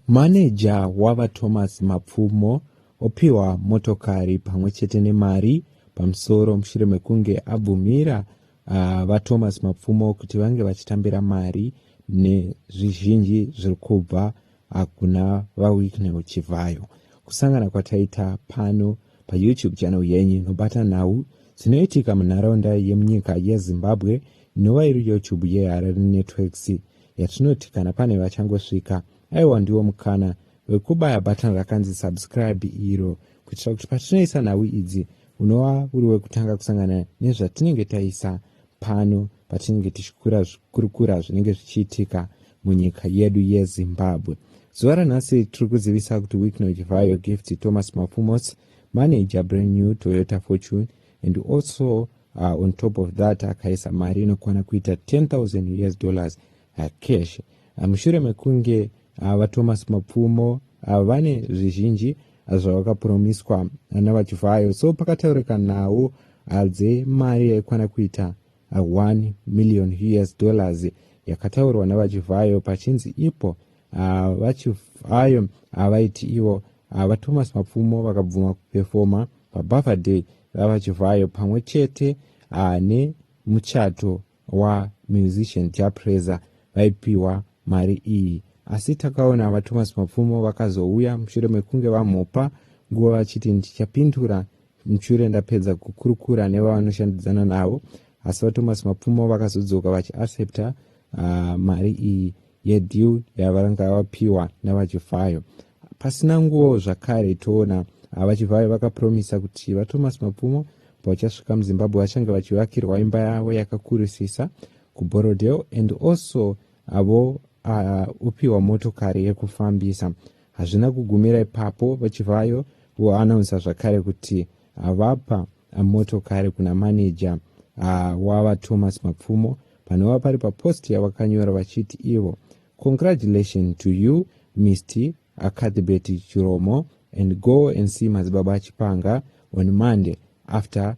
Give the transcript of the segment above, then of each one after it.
Maneja waVaThomas Mapfumo opihwa motokari pamwe chete nemari pamusoro mushure mekunge abvumira VaThomas Mapfumo kuti vange vachitambira mari nezvizhinji zviri kubva kuna VaWicknell Chivhayo. Kusangana kwataita pano paYouTube channel yenyu inobata nhau dzinoitika munharaunda yemunyika yeZimbabwe inova iri YouTube yeHarare Networks. yatinoti kana pane vachangosvika aiwa ndiwo mukana wekubaya button rakanzi subscribe iro kuitira kuti patinoisa nhau idzi unova uri wekutanga kusangana nezvatinenge taisa pano patinenge tichikura zvikurukura zvinenge zvichiitika munyika yedu yezimbabwe zuva ranhasi tiri kuzivisa kuti wikno chivhayo gift thomas mafumos manager brand new toyota fortune and also uh, on top of that akaisa mari inokwana kuita 10000 us dollars uh, cash uh, mushure mekunge uh, vatomas mapfumo uh, vane zvizhinji uh, zvavakapromiswa uh, navachivhayo so pakataurika nhau uh, dzemari yaikwana kuita 1 million us dollars yakataurwa navachivhayo pachinzi ipo ah, vachivhayo havaiti ah, ivo ah, vathomas mapfumo vakabvuma kupefoma pabirthday vavachivhayo pamwe chete nemuchato wamusician japresa vaipiwa mari iyi asi takaona vathomas mapfumo vakazouya mushure mekunge vamupa nguva vachiti ndichapindura Mchure ndapedza kukurukura nevanoshandidzana navo asi vaThomas Mapfumo vakazodzoka vachiaccepta uh, mari iyi yedeal yavaranga vapiwa navachifayo pasina nguva zvakare toona ah, vachivayo vakapromisa kuti vathomas mapfumo pavachasvika muzimbabwe vachange vachivakirwa imba yavo yakakurisisa kuborodel and also avo ah, upiwa motokari yekufambisa Hazvina kugumira ipapo, VaChivhayo voanaunsa zvakare kuti vapa motokari kuna maneja wava Thomas Mapfumo panova pari papost yavakanyora vachiti ivo congratulation to you Mr Cuthbert Chiromo and go and see Madzibaba Chipanga on Monday after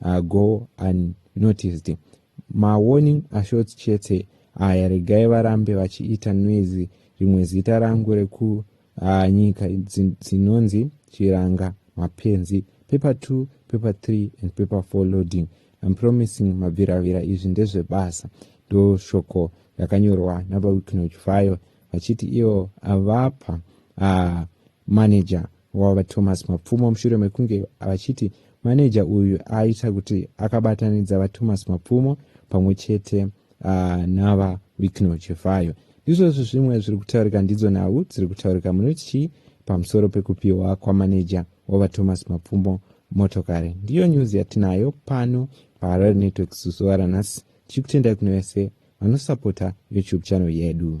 uh, go unnoticed mawarning ashort chete aya regai varambe vachiita noise rimwe zita rangu rekunyika uh, dzinonzi chiranga mapenzi paper 2 paper 3 and paper 4 loading im promising mabviravira izvi ndezvebasa ndoshoko rakanyorwa navawicknoch vayo vachiti ivo vapa uh, manager wavo VaThomas Mapfumo mushure mekunge vachiti maneja uyu aita kuti akabatanidza VaThomas Mapfumo pamwe chete uh, nava Wicknell Chivhayo. Ndizvozvo zvimwe zviri kutaurika ndidzo nhau dziri kutaurika munoti chii pamusoro pekupiwa kwamaneja waVaThomas Mapfumo motokari. Ndiyo nyuzi yatinayo pano paHarare Network zuzuva ranhasi tichikutendai kune vese vanosapota YouTube channel yedu.